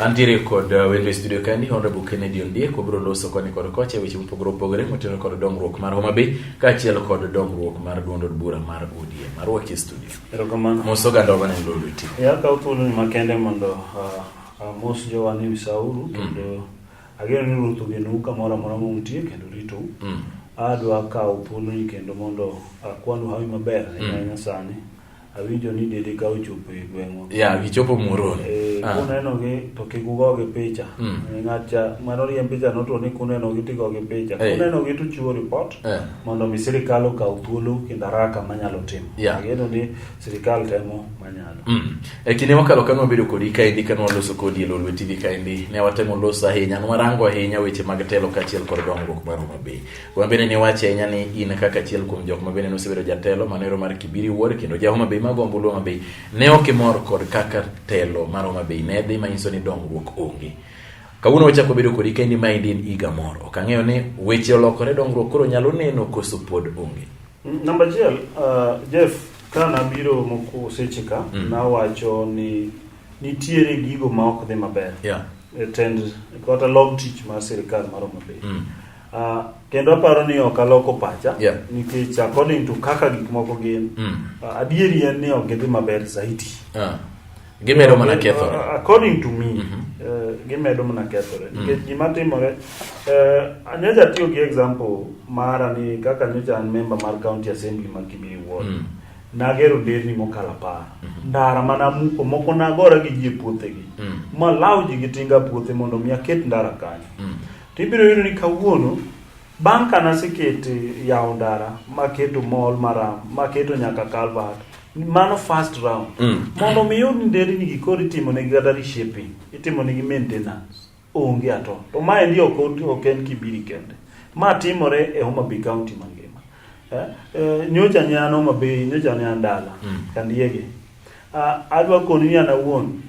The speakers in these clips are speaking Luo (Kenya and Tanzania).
Antiere kod uh, wendo e studio kani Honorable Kennedy Ondiek wabiro loso koni kod kocha weche mopogore opogore motenore kod dongruok mar Homa Bay kaachiel kod dongruok mar duond od bura mar ODM. Arwaki e studio. Erokamano. Mos oganda oganda ni lolo iti. Ya kaw thuolo ni makende mondo uh, uh, mos jowa ni misauru mm. kendo mm. ageno ni ruoth ogenu kamoro amora ma untie kendo ritou. Mm. Adwa kawo thuolo ni kendo mondo akwanu hawi maber mm. e sani. Awinjo ni dede ka ochopo e gweng'wa. Yeah, gichopo Muhoroni. Eh, Ah. kunenogi to kik ugogi picha. Mm. Eh, Ng'at cha mane oriemb picha notwo ni kunenogi to igogi picha. Eh. Kunenogi to uchiwo ripot Eh. mondo mi sirikal okaw thuolo kendo haraka manyalo timo. Yeah. Ageno ni sirikal temo manyalo. Mm. E kinde mokalo kane wabedo kodi kaendi kane waloso kodi e Lolwe TV kaendi ne watemo loso ahinya ne warango ahinya weche mag telo kaachiel kod dongruok mar Homa Bay. Kuma bende ne wacho ahinya ni in kaka achiel kuom jok ma bende nosebedo jatelo manero mar Kibiri Wuod kendo ja Homa Bay mago ombulu Homa Bay ne ok imor kod kaka telo mar Homa Bay ne dhi manyiso ni dongruok onge. Kawuono wachako bedo kodi kendi ma in in iga mor. Ok ang'eyo ni weche olokore dongruok koro nyalo neno koso pod onge. Mm, namba achiel, uh, Jeff, ka nabiro moko seche ka, mm. nawacho ni nitiere gigo ma ok dhi maber. Yeah. E tend, kata log tich mar sirikal mar Homa Bay. Mm. Uh, kendo aparo ni ok aloko pacha yeah. nikech according to kaka gik moko gin mm. uh, adieri en ni ok gidhi maber zaidi uh. Ah. gimedo mana kethore uh, according to me mm -hmm. uh, gimedo mana kethore mm. nikech gima timore uh, anyocha tiyo gi example mara ni kaka nyocha an member mar county assembly ma Kimiri ward mm. nagero nderni mokalo apar mm -hmm. ndara mana muko moko nagora gi ji e puothegi mm. malaw ji gi tinga puothe mondo mi aket ndara kanyo mm. To ibiro yudo ni kawuono bang' ka nasekete yawo ndara maketo mall maram maketo nyaka calvert mano first round Mm. mondo mi yud nderni gi koro itimo negi kata reshaping itimo negi maintenance onge ato to ma endi ok ot- ok en kibiri kende ma timore e Homa Bay county mangima eh, eh, nyocha ne an Homa Bay nyocha ne an dala Mm. kandiege adwa koni ni an awuon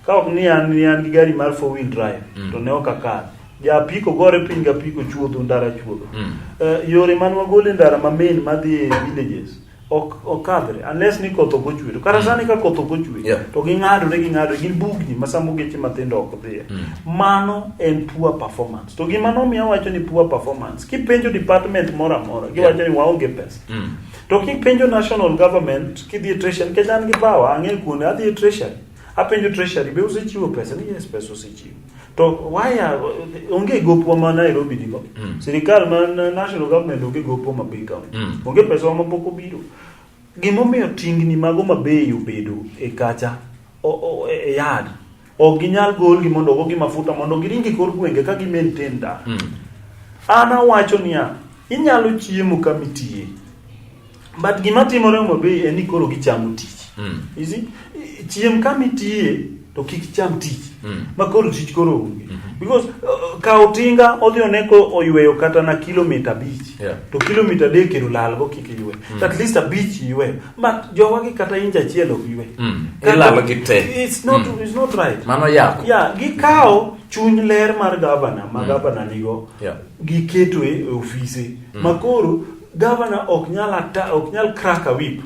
ka ok ni an ni an gi gari mar four wheel drive mm. to ne ok akal ja apiko gore piny ga apiko chuodho ndara chuodho mm. uh, yore man wagole ndara ma main madhi e villages ok okadhre unless ni koth ok ochwe to kata mm. sani ka koth ok ochwe yeah. to ging'adore ging'adore gin bugni ma samo geche mathindo ok dhiye mm. mano en poor performance to gima nomiyo wacho ni poor performance kipenjo department moro amora giwacho yeah. ni waonge pesa mm. To kipenjo national government kidhi e treasury nikech an gi power ang'e kuonde adhi e treasury apenjo treasury be usechiwo pesa ni yes pesa usechiwo to waya onge gopwa ma Nairobi nigo mm. sirikal ma national government onge gopwa ma big county mm. onge pesa ma pok obiro gimomiyo tingni mago mabeyo bedo e kacha o, o, e yard Ok ginyal golgi mondo ogogi mafuta mondo giringi kor gwenge ka gimaintain dak. Mm. An awacho niya, inyalo chiemo kama itiye. But gima timore Homa Bay en ni koro gichamo tich. Mm. You see? Chiem kama itiye to kik cham tich. Mm. Ma koro tich koro onge. Mm -hmm. Because uh, ka otinga odhi oneko oyweyo kata na kilomita abich. Yeah. To kilomita adek ero lalgo kik ywe. Mm. At least abich ywe. but jowagi kata inch achiel ok ywe Mm. Kata- Ilalo gi te. it's not, Mm. it's not right Mano yako. yeah, gikawo chuny ler mar gavana ma gavana nigo Yeah. giketo e e ofise makoro gavana ok nyal ata ok nyal crack a whip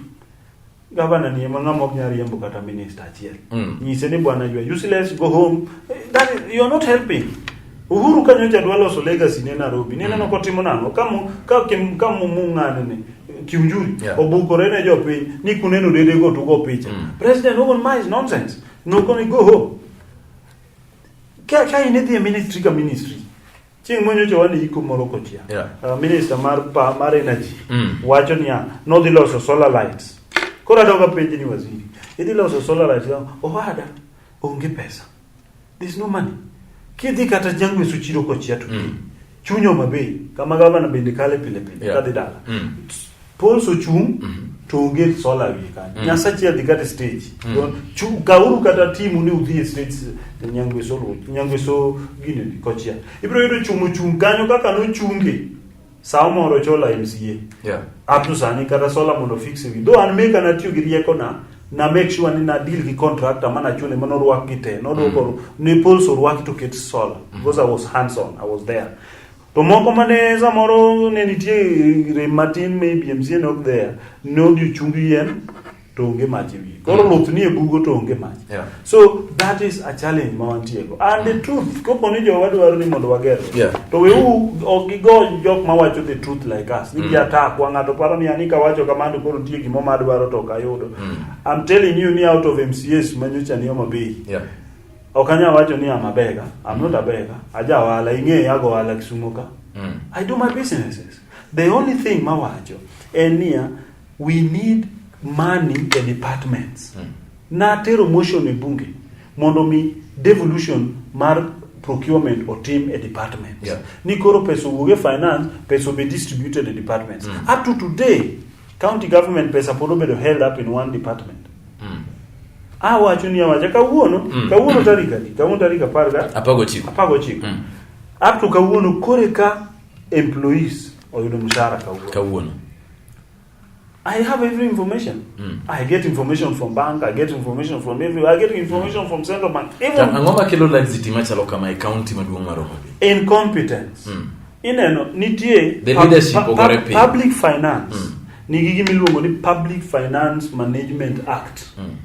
gavana ni ema ng'ama ok nyal riembo kata minister achiel Mm. nyise ni bwana you are useless go home Eh, that is, you are not helping Uhuru ka nyocha dwa loso legacy ne Nairobi, ne neno mm. kotimo nang'o ka ka ka mung'ane ne kiunjuri yeah. obukore ne jopiny ni kuneno dede go tugo picha mm. president Owen Miles nonsense no gonna go home ka ka in the ministry ka ministry chieng' monyocha wan iko moro kochia yeah. uh, minister mar pa, mar energy mm. wacho niya nodhi loso solar lights koro adoga penj ni waziri idhi loso solar lights owada onge pesa There's no money. Kidhi kata jangu isu chiro kwa chia tu. Mm. Chunyo mabe. Kama gava na bende kale pile pile. Yeah. Kadi dala. Mm. Paul so chung. Mm -hmm. To onge sola wi ka. Mm. Nyasa chia di kata stage. Mm. Don chu kauru kata timu ni udhi stage ni nyangu isu lo. Nyangu isu gine di kwa chia. Ibro yodo chumu chung. Ganyo kaka no chungi. Saa moro chola MCA. Yeah. Up to sani kata sola mondo fix wi. Though an meka na tiyo gi rieko na na make sure ni na deal gi contractor mana chune mano ruak gi te. No do koro ne pulse ruak to get sola because I was hands on. I was there. To moko mane samoro ne nitie rem matin maybe MCA not there. No di chungi yen to onge mach e wiye koro luth nie bugo to onge mach Yeah. so that is a challenge ma wantiego and the truth kopo ni jowa dwaro ni mondo wager Yeah. to wewu ok gigo jok ma wacho the truth like us ni gi attack wa ng'ato paro ni ani kawacho kamano koro nitie gimo ma adwaro to ok ayudo I'm telling you ni out of MCAs ma nyocha ni Homa Bay Yeah. ok anyal wacho ni I'm a beggar I'm not a beggar aja ohala ing'eya ago ohala Kisumo ka Mm. I do my businesses. The only thing mawacho en niya We need money e departments. Mm. Natero motion e bunge mondo mi devolution mar procurement otim e department. Yeah. Ni koro pesa owuog e finance, pesa be distributed e departments. Mm. Up to today, county government pesa pod obedo held up in one department. Mm. Awacho ni awacha kawuono, mm. kawuono tarik adi? Kawuono tarik apar ga? Apar gochiko. Apar gochiko. Mm. Up to kawuono kore ka employees oyudo mshahara kawuono. Kawuono. I have every information. Mm. I get information from bank, I get information from every, I get information mm. from central bank. Even angoma kelo laxity machalo kama e county maduong' mar Homa Bay. Incompetence. Mm. Ineno nitie the leadership pub, pub, pub, public finance. Mm. Nigi gima iluongo ni Public Finance Management Act. Mm.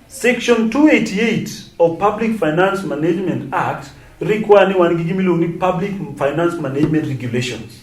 Section 288 of Public Finance Management Act require ni wan gi gima iluongo ni Public Finance Management Regulations.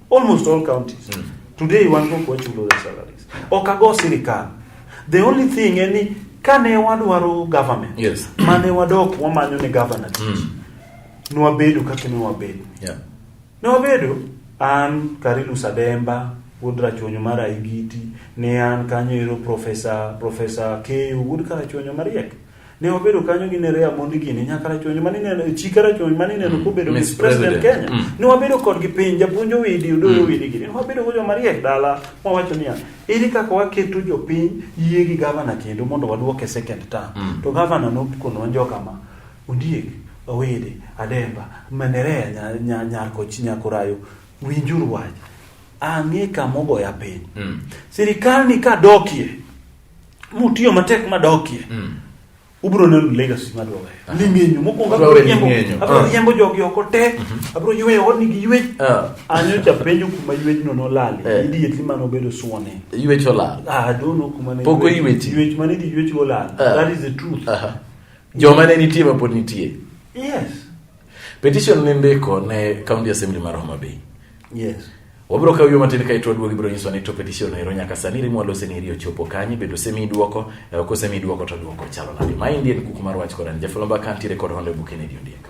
Almost all counties. Mm. Today wan go kwa chulo the salaries. Okago sirikal. The only thing en ni kane wadwaro government. Yes. Mane wadok wamanyo ni government. Mm. Nwabedo kaka ne wabedo. Yeah. Ne wabedo an Karilu Sademba, wuod Rachuonyo mar Aigiti, ne an kanyo ero Professor Professor Keyo, wuod Karachuonyo mariek. Ne obedo kanyo gi Nerea mondi gini nyaka rachonyo mani neno e chika rachonyo mani neno mm. kobedo Miss President Kenya. Mm. Ne wabedo kod gi piny japuonj owidi udo mm. owidi gini. Ne wabedo go joma riek dala ma wacho niya iri kaka waketo jopiny yie gi gavana kendo mondo waduoke second term. Mm. To gavana nokono wanjo kama ondiek owidi ademba manerea nyar nyar nyar kochi nyakurayo winjuru wach ang'e kamogoya piny. Mm. Sirikal ni kadokie mutiyo matek madokie mm. ubro neno legacy madwawe ling'enyo mokwongo abro riembo jogi oko te mhm. abro yweyo odni gi ywech ah. anyo cha penjo kuma ywechno nolali eh. idietli mane obedo suone ywech olal ah, dono kuma ne poko ywech ywech mane idhi ywech olal ah. that is the truth joma ne nitie mapod nitie yes Petition ne ndiko ne County Assembly mar Homa Bay. Yes. Wabiro kawo yo matin kae to waduogo ibiro nyiswa ni to petition ero nyaka sani rimo alose ni riyo chopo kanye bedo semi duoko e eh, ko semi duoko to duoko chalo nadi. Ma indien kuku mar wach koran jafulomba kanti rekod honde bukene dio ndieka.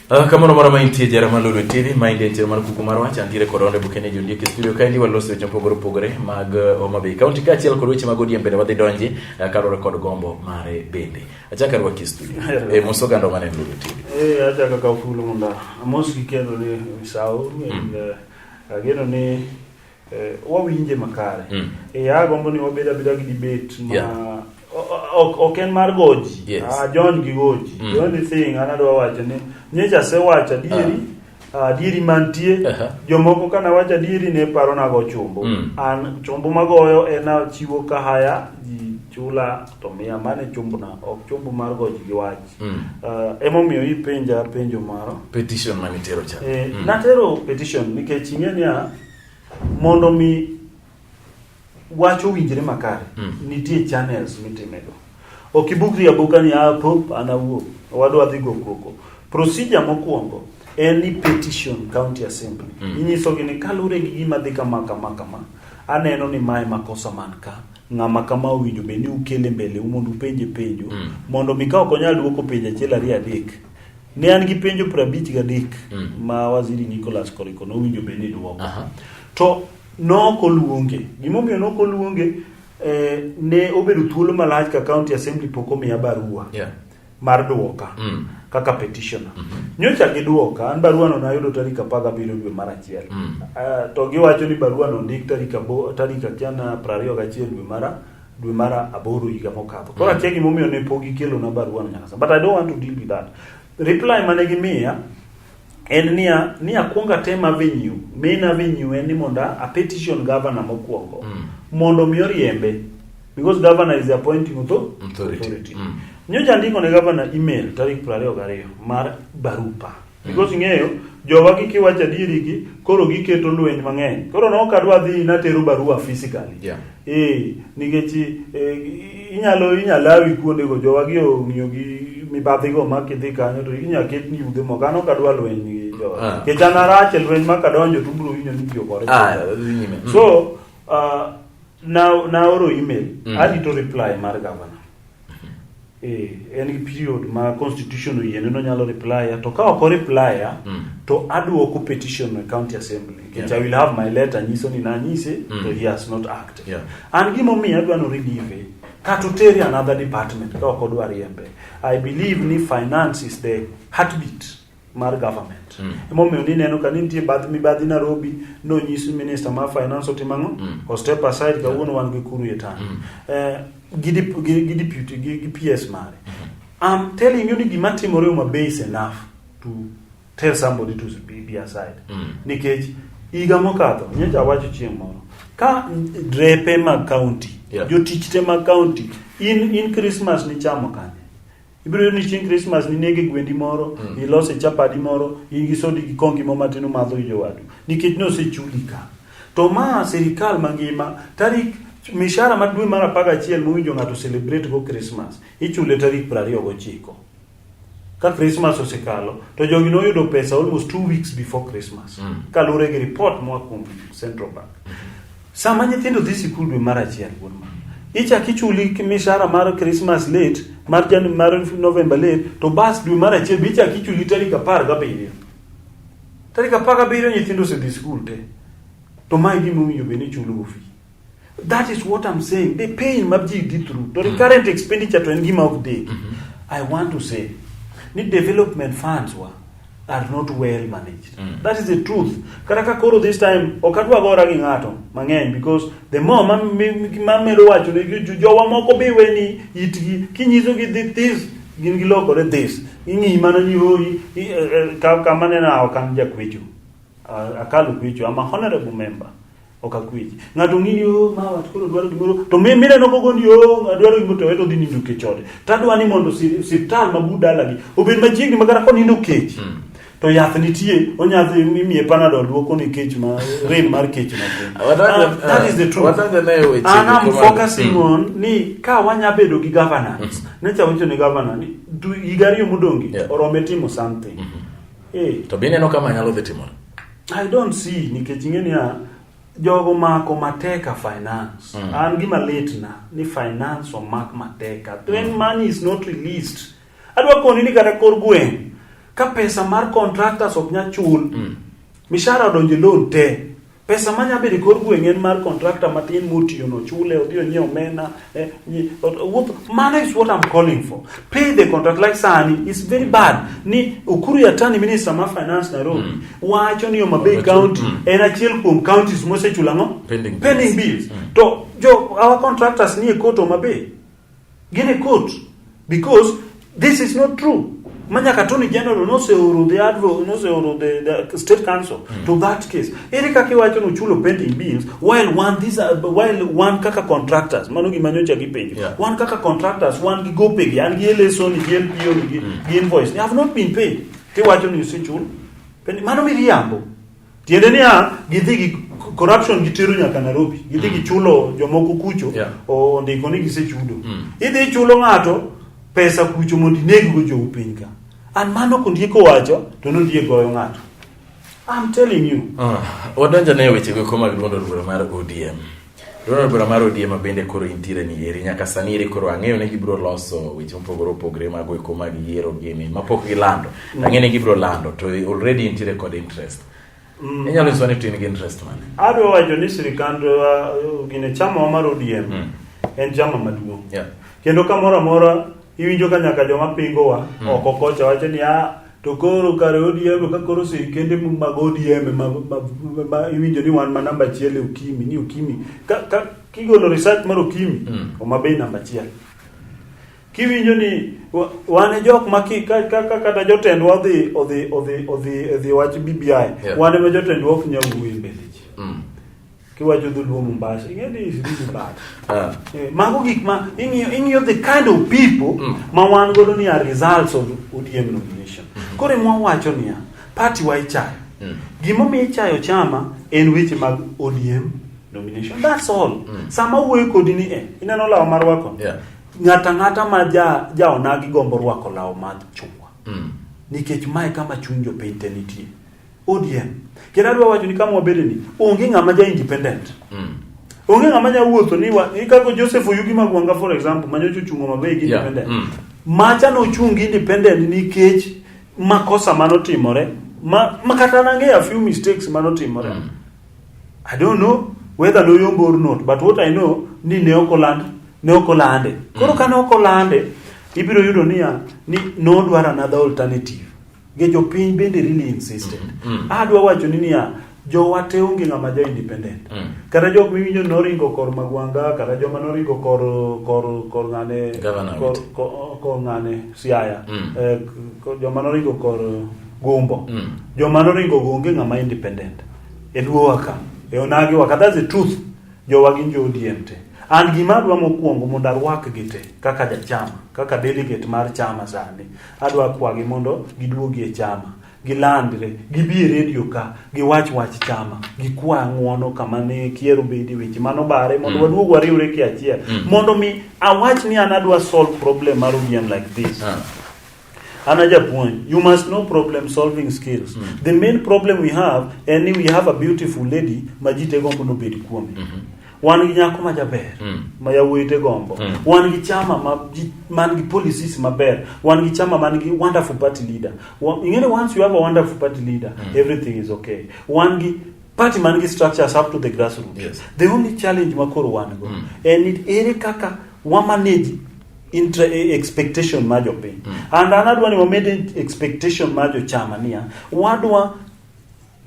Uh, kamano mara maintie jara ma Lulu TV maende en chenro mar kuku mar wach antiere kod onde bukene jondiek e studio kaendi waloso weche mopogore opogore mag eh, Homa Bay County kaachiel kod weche mag ODM bende wadhi donje uh, kaluwore kod gombo mare bende achaka rwaki e studio e eh, moso gando mane Lulu TV eh achaka ka fulu munda amos gi kendo ni sawo mm. ageno ni Eh, wawinje makare. Mm. Eh, agombo ni wabed abeda gi debate ma yeah. ok en mar goji yes. ah, John gi goji mm. the only thing an adwa wacho ni nyecha se wacho adieri uh. Ah, adieri mantie uh -huh. jomoko kana wacho adieri ne paro nago chumbo mm. an chumbo magoyo en achiwo kahaya ji chula to miya mane chumbna ok chumbo mar goji gi wach mm. uh, emomiyo ipenja penjo maro petition manitero cha eh, mm. natero petition nikech ing'e niya Mondo mi wacho winjre makare mm. nitie channels mitimego ok ibukri abuka ni ah, pop anawuo wadwa dhi go koko procedure mokwongo en ni petition county assembly mm. inyisogi ni kalure gi gima dhi kama kama kama aneno ni mae makosa man ka ng'ama kama owinjo bed ni ukele mbele u mondo upenje penjo mm. mondo mi ka ok onyal duoko penjo achiel ariyo adek Ne an gi penjo piero abich gadek mm. ma waziri Nicholas Koriko nowinjo bed ni dwoko. Uh -huh. To nok oluonge. Gimomiyo nok oluonge eh, ne obedo thuolo malach ka county assembly pok omiya barua yeah. mar dwoka mm. kaka petitioner. Mm -hmm. Nyocha gidwoka, an barua no nayudo tarik apar gabiriyo dwe mar achiel. Mm. Uh, to giwacho ni barua no ndik tarik abo tarik achiel na prariyo gachiel dwe mara dwe mar aboro higa mokadho. Koro akia gimomiyo ne pok gikelona barua no nyaka sani. But I don't want to deal with that. Reply mane gimiya en niya ni akwong atem avenue. Main avenue en ni mondo a petition governor mokwongo mondo mi oriembe because governor is the appointing author- Authority. authority. Mm. Nyocha andiko ne governor email tarik 22 mar barupa. Because ing'eyo jowa gi kiwacho adieri gi koro giketo lweny mang'eny. Koro no kadwa dhi natero barua physically. Yeah. Eh, nikech eh, inyalo inyalawi kuonde go jowa gi ong'iyo gi mibadhi go ma kidhi kanyo to inyalo ket ni yude moko an ok adwa lweny gi jowa. Ah. Nikech an arach e lweny ma kadonjo to ubiro winjo ni tiyo kore. Ah, dhi nyime. Mm. So, uh, na, na oro email, Mm. arito reply mar governor. Eh, en gi period ma constitution oyiene no nyalo replya to ka ok oreplya mm. to aduoko petition no e county assembly nikech yeah. i will have my letter nyiso ni nanyise mm. to he has not acted yeah. an gimomiyo adwa no relieve kata otere another department ka ok odwa riembe i believe ni finance is the heartbeat mar government mm. emomiyo nineno ka ni nitie bath mibadhi Nairobi nonyis minister mar finance otimo ang'o mm. o step aside kawuono wan gi kuru e tang mm. eh, gi deputy gi PS mare I'm mm-hmm. telling you ni gima timore uma base enough to tell somebody to be aside mm. nikech higa mokadho nyocha awacho chieng' moro ka drepe mag county yeah. jotich te mag county in, in Christmas nichamo kanye ibiro yudo ni chieng' krismas ninege gwendi moro mm. ilose chapadi moro in gi sodi gi kongi mo matin umadho gi jowadu nikech ne osechuli ka to ma sirikal mangima tarik mishara ma dwe mar apar gachiel mowinjo ng'ato celebrate go krismas ichule tarik piero ariyo gochiko ka krismas osekalo to jogi noyudo pesa almost two weeks before krismas mm. kaluwore gi report moa kuom central bank mm. Sama nyithindo dhi sikul dwe mar achiel wuod ma ichak ichuli mishahara mar Christmas late mar Jan mar November late to bas dwe mar achiel be ichak ichuli tarik apar gabiriyo tarik apar gabiriyo nyithindo osedhi sikul te to mae gima owinjo bed ni ichulogo fi that is what I'm saying the pain ma ji dhi through to recurrent expenditure to en gima ok deki I want to say ni development funds wa are not well managed. Mm. That is the truth. Kata ka koro this time ok adwa gora gi ng'ato mang'eny because the more ma mamedo wacho ne jowa moko be weni itgi kinyiso gi the this gin gilokore this ing'i mana ni hoi eh, eh, kama nena ok an jakwecho akalo kwecho ama honorable member Ok akweji. Ng'ato ng'ini o oh, mawa koro dwaro gimoro to mi mire no gogo ni o oh, adwaro gimoro to weto dhi nindo kech ode. To adwa ni mondo siptal ma bu dalagi obed machiegni magara ko nindo kech. Hmm. To yath nitie onyadhi imiye panadol duoko ni kech ma rem mar kech ma. Uh, that is the truth. And I'm focusing hmm. on ni ka wanya bedo gi governance. Hmm. Ne chawicho ni governor ni igari yo mudongi orome timo something. Eh. To bineno kama nyalo dhi timore. I don't see nikech ing'e niya jogo mako mateka finance mm. an gima litna ni finance omak mateka mm. when money is not released adwa koni ni kata kor gweng ka pesa mar contractors ok nya chul mm. mishara odonje loan te pesa ma nyabedo kor gweng en mar contractor matin motiyo no chule odhi onyiew omena Eh, mano is what I'm calling for. Pay the contract like sani is very bad. Ni Ukuru ya tani minister ma finance Nairobi mm. wacho ni Homa Bay county mm. en achiel kuom counties mosechula no pending, pending bills. Mm. To jo our contractors ni e court Homa Bay. Gin e court. Because this is not true. Manya Katoni General noseoro the advo noseoro the, the state council mm. to that case. Ere kaka iwacho no chulo pending bills while one these are while one kaka contractors mano gima nyocha gipenjo. Yeah. One kaka contractors one gi gope gi an gi LSO ni gi LPO ni gi, mm. gi invoice. They have not been paid. Tiwacho ni usichul. Mano miriambo. Tiende niya, gidhi gi corruption gitero nyaka Nairobi. Gidhi mm. gichulo jomoko kucho yeah. ondiko ni gisechudo. Mm. Idhi ichulo ng'ato pesa kucho mondo ineggo jou piny ka. An mano kondiko wacho to nodhi goyo ng'ato. I'm telling you. Uh, wadonjo ne wechego koma giluondo luoro mar ODM. Riwruok bura mar ODM ma bende koro intiere ni eri nyaka sani eri koro ang'eyo ni gibiro loso weche mopogore opogore mag weko mag yiero gini ma pok gilando. Mm. Ang'eyo ni gibiro lando to already intiere kod interest. Mm. Inyalo nyisowa ni to in gi interest mane? Adwa wacho ni sirkand uh, gine chama mar ODM mm. en chama maduong'. Yeah. Kendo kamoro amora iwinjo ka nyaka joma pingowa mm. oko kocha wacho ni ah To koro kare ODM ka koro sirkende mag ODM ma, ma, ma, ma iwinjo ni wan ma namba achiel e Ukimi ni Ukimi ka, ka kigolo research mar Ukimi Mm. Homa Bay namba achiel kiwinjo ni wa- wan e jok ma ki- ka- ka- ka- kata jotendwa odhi odhi odhi odhi odhi wach BBI Yeah. wan ema jotendwa ok nyal wuoyo e mbele ji Mm. Kiwacho dholuo Mombasa, ing'e ni is really bad. Ah. Eh, mago gik ma ing'iyo ing'iyo the kind of people mm. ma wan godo ni are results of ODM nomination. Mm -hmm. Kore mwa wacho niya, party wa ichayo. Mm. Gimo mi ichayo chama en weche mag ODM nomination. That's all. Mm. Sama wuoyo kodi ni eh, ineno lawa mar wako. Yeah. Ng'ata ng'ata ma ja ja onagi gombo rwako lawa mar chungwa. Mm. Nikech mae kama chuny jopiny te nitie. ODM. Kendo adwa wacho ni kama wabede ni onge ng'ama ja independent. Mm. Onge ng'ama nya wuotho ni wa ni kako Joseph Oyugi Magwanga for example manyo chuchungo mabe gi Yeah. independent. Mm. Macha no chung independent nikech makosa manotimore. Ma, ma kata nange a few mistakes manotimore. Mm. I don't know whether noyombo or not, but what I know ni ne ok oland ne ok olande. Koro kane ok olande ibiro yudo niya ni nodwar another alternative. Nge jopiny bende really insisted. Mm. Mm. Adwa wacho ni niya jowa te onge ng'ama jo independent. Mm. Kata jok miwinjo noringo kor Magwanda kata joma noringo kor kor kor ng'ane Governor kor, Witi. kor, kor ng'ane Siaya. Mm. Eh, kor, joma noringo kor Gumbo. Mm. Joma noringo go onge ng'ama independent. E luowa ka. E onagi wa kata the truth. Jowa gin jo ODM te. An gima adwa mokwongo mondo arwakgi te kaka jachama, kaka delegate mar chama sani. Adwa kwagi mondo giduogi e chama, gilandre, gibi e redio ka, giwach wach chama, gikwa ng'uono kama ne kiero bedi weche mano bare mondo mm. waduog wariwre ki achiel mm. mondo mi awach ni an adwa solve problem mar ODM like this. Ah. Another point, you must know problem solving skills. Mm. The main problem we have, and we have a beautiful lady, Majite Gombo no bedi kuome. Mm -hmm. wan gi nyako majaber mm. ma yawuoyite gombo mm. wan gi chama ma man gi policies maber wan gi chama man gi wonderful party leader ingene once you have a wonderful party leader mm. everything is okay wan gi party man gi structures up to the grassroots yes. the only challenge ma koro wan go mm. and it ere kaka wa manage intra e, expectation ma jopiny mm. and anadwa ni wamed expectation ma jochama niya wadwa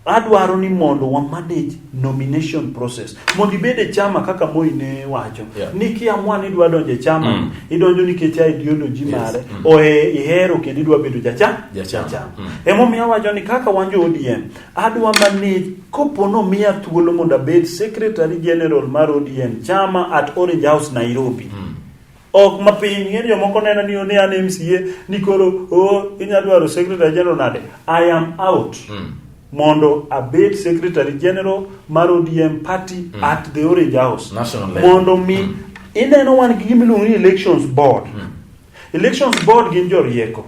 adwaro ni mondo wa manage nomination process mondo ibed e chama kaka Moi ne wacho yeah. ni kiamua ni idwa donjo e chama mm. idonjo nikech a ideology yes. mare mm. ohe ihero kendo idwa bedo jachama jachama ja mm. emomiyo awacho ni kaka wan jo ODM adwa manage kopo no miya thuolo mondo abed secretary general mar ODM chama at Orange House Nairobi mm. ok mapiny ng'eni jomoko nena ni one an mca ni koro o oh, inya dwaro secretary general nade i am out mm. mondo abed secretary general mar odm party mm. at the orange house National mondo mi mm. ineno wan gi gimiluongo ni elections board mm. elections board gin jorieko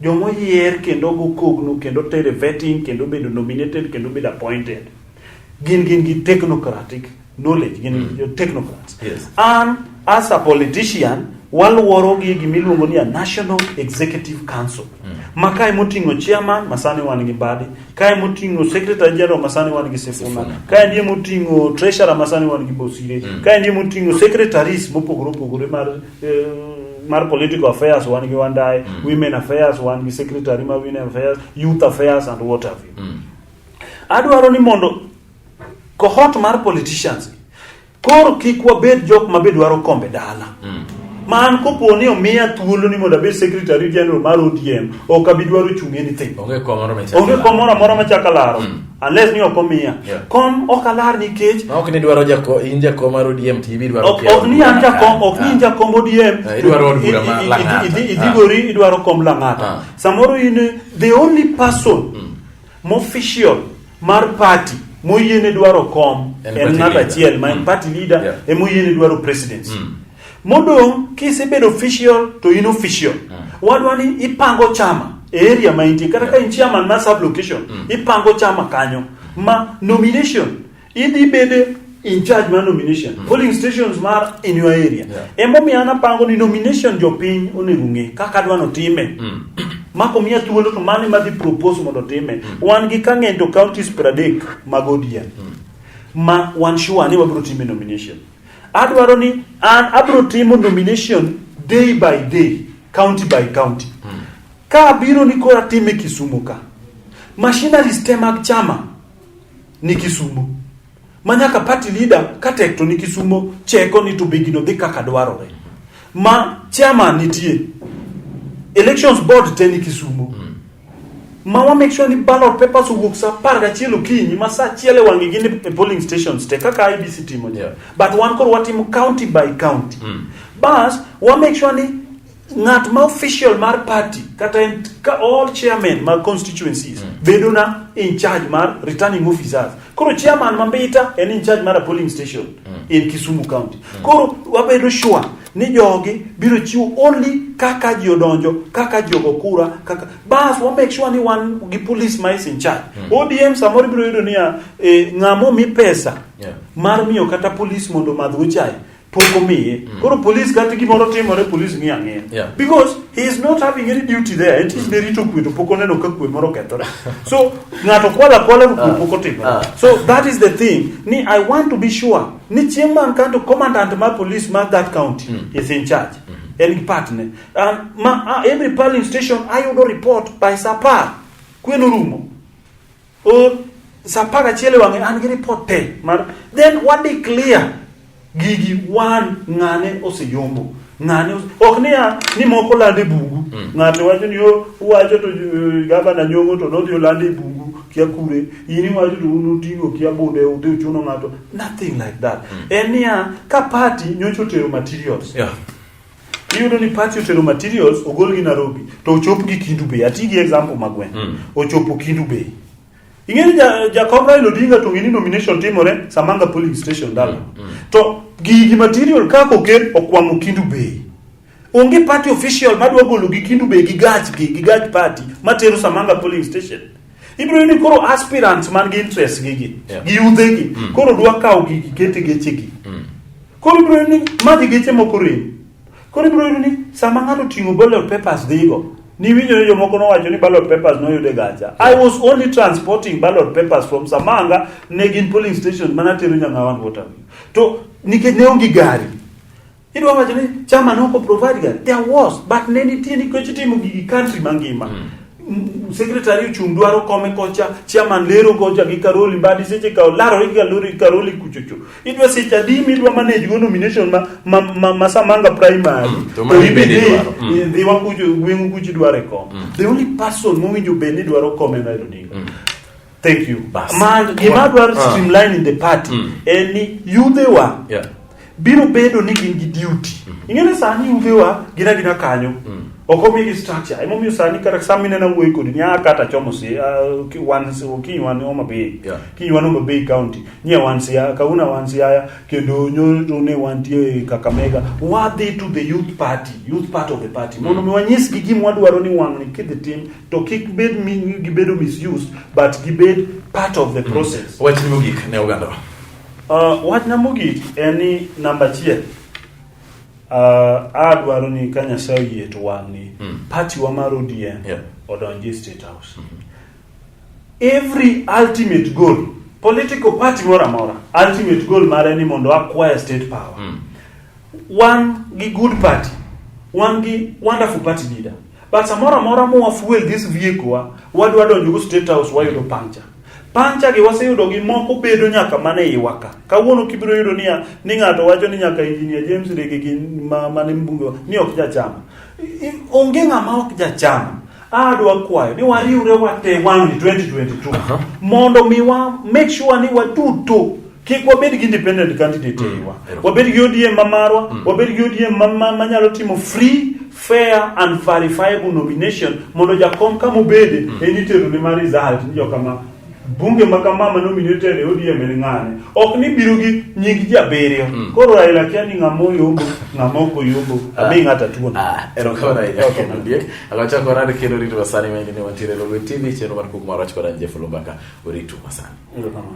Joma oyier kendo ogo kogno kendo tere vetting kendo bedo nominated kendo bedo appointed gin gin gi technocratic knowledge gin mm. jo technocrats. Yes. An as a politician waluoro gi gima iluongo ni a National Executive Council. Mm. Ma kae moting'o chairman ma sani wan gi Mbadi, kae moting'o secretary general ma sani wan gi Sifuna, kae ndiye moting'o treasurer ma sani wan gi Bosire, mm. kae ndiye moting'o secretaries mopogore opogore mar eh, mar political affairs wan gi wandaye mm. women affairs wan gi secretary ma women affairs youth affairs and what have you mm. adwaro ni mondo cohort mar politicians koro kik wabed jok ma be dwaro kombe dala mm. ma an kopo ni omiya thuolo ni mondo abed secretary general mar odm ok abi dwaro chung anything onge kom moro amora machaka laro mm. unless ni ok omiya Yeah. kom ok alar nikech Ma ok ni dwaro jako in jako mar ODM to ibi dwaro ok ok ni an jakom ok ni in jakom ODM Eh, idwaro od bura ma I- i- i- Lang'ata. idhi- idhi Ah. gori idwaro kom Lang'ata Ah. samoro in eh, the only person mofficial mar party moyiene dwaro kom En en party ng'at leader. achiel ma en Mm. party leader Yeah. emoyiene dwaro presidency Modong' kisebedo official to in official. Mm. Wadwa ni ipango chama e area ma intie kata ka in chairman ma sub location mm. ipango chama kanyo ma nomination idhi bede in charge mar nomination mm. polling stations mar in your area yeah. emomiyo an apango ni nomination jopiny onego ng'e kaka adwa notime mm. mako miya thuolo to mano madhi propose mondo time mm. wan gi kang'eny to counties pradek mag odien mm. ma wan sure ni wabiro time nomination mm. Adwaro ni an abiro timo nomination day by day, county by county. Ka abiro ni koro atime Kisumu ka. Machineries te mag chama ni Kisumu. Ma nyaka party leader ka tek to ni Kisumu cheko ni to be gino dhi kaka dwarore. Ma chairman nitie. Elections board te ni Kisumu. ma wa make sure ni ballot papers owuok sa apar gachiel okinyi ma sa achiel e wang'e gin e polling stations te kaka IBC timo yeah. but wan koro watimo county by county mm. bas wa make sure ni ng'at ma official mar party kata en ka all chairman mag constituencies mm. bedo na in charge mar returning officers koro chairman ma mbita en in charge mar a polling station mm. in Kisumu county mm. koro wabedo sure ni jogi biro chiwo only kaka ji odonjo kaka ji ogo kura kaka bas wa make sure ni wan gi police ma is in charge mm. ODM samoro biro yudo niya e, ng'amo mi pesa yeah. mar miyo kata police mondo madh uchaye pok omiye mm. koro police kata gimoro timore police ng'iyo ang'iya yeah. because he is not having any duty there it is very to kwe to pok oneno ka kwe moro kethore so ng'ato kwala kwala kwe ah. pok otimore ah. so that is the thing ni i want to be sure ni chieng' man kanto commandant mar police mar that county mm. is in charge mm -hmm. en gi partner and ma, uh, every polling station ayudo report by sapar kweno rumo or sapar achiel e wang'e an gi report te mar then wa declare gigi wan ng'ane oseyombo Ng'ani ok niya ni moko lande bungu. Mm. Ng'ato wacho ni yo wacho to uh, gavana nyongo to nodhi olande bungu kia kure. Ini wacho to unu tingo kia bunde udhi uchuno ng'ato. Nothing like that. Mm. En niya ka party nyocho tero materials. Yeah. Iyudo ni party otero materials ogol gi Nairobi to ochop gi Kindu Bay. Ati gi example magwen. Mm. Ochopo Kindu Bay. ing'eni ja- jakom raila odinga to ng'eni nomination timore samanga polling station dala to gigi material kaka oket okwamo kindu bei onge party official madwa golo gi kindu bei gi gach gi gi gach party matero samanga polling station ibiro yudo ni koro aspirants man gi interest gi gi Yeah. gi yudhe gi koro dwa kawo gigi kete geche gi koro ibiro yudo ni madhi geche moko rem Koro ibiro yudo ni sama ng'ato ting'o ballot papers dhigo, niwinjo ni jomoko nowacho ni ballot papers noyud e gacha. I was only transporting ballot papers from Samanga ne gin polling station mana tero Nyangawan water. To nikech ne onge gari. Idwa wacho ni chama ne ok provide gari. There was but ne nitie nikech itimo gigi country mangima. Mm. M- Secretary ochung' dwaro kome kocha, chairman lero kocha gi Karoli Mbadi seche ka olarore gi Karoli Karoli kuchocho. idwa seche adi midwa manage go nomination ma, ma, ma, ma samanga primary Mm, to mani ibi bende dhi- idwaro. Mm. dhi wakucho gweng'u kucho idwaro e kom the only person mowinjo bed ni dwaro kom en Raila Odinga thank you Bas. ma gima Wa- dwaro ah. streamline in the party Mm. en ni yudhewa Yeah. biro bedo ni gin gi duty ing'eni sani yudhewa gina gina kanyo ok omigi structure emomiyo sani kata sama minena wuoyi kodi nya kata chomo si ah, ki- wan si- kiny wan Homa Bay Yeah. kiny wan Homa Bay county nie wan siaya kawuna wan siaya kendo nyoro ne wantie kakamega wadhi to the youth party youth part of the party mondo mi wanyisgi gima wadwaro ni wang'ni kidhi tim to kik bed mi gibedo misused but gibed part of the process Wach ni mogik ne oganda. Uh, wachna mogik en ni namba achiel uh, adwaro ni ka nyasaye oyie to wang'ni Mm. party wa mar odm Yeah. odonji e state house Every ultimate goal, political party moro amora, ultimate goal mare ni mondo acquire state power. Mm. Wan gi good party, wan gi wonderful party leader. But samoro amora mowa fuel this vehicle wa, wadwa donjo go state house wayudo pancha. Pancha gi waseyudo gi moko bedo nyaka mana e iwa ka. Kawuono kibiro yudo niya ni ng'ato wacho ni nyaka engineer James Rege gi ma mane mbunge wa, ni ok jachama. Onge ng'ama ok jacham. Adwa kwayo ni wariwre wate wang'ni 2022 mondo mi wa make sure ni waduto kik wabed gi independent candidate mm. eyiwa wabed gi ODM ma marwa mm. wabed gi ODM ma- ma- manyalo timo free fair and verifiable nomination mondo jakom kama obede en itero ne ma result ni jokama bunge ma kama ma nominated e ODM en ng'ane ok ni biro gi nying ji abiriyo mm. koro Raila kia ni ng'ama oyombo ng'ama ok oyombo ah. abi ng'ata tuon ah, erokamano ahinya kendo diek akachako orad kendo rito masani ma indi ni wantiere Lolwe TV chenro mar kuk marach kod an Jeff Lumbaka oritu masani erokamano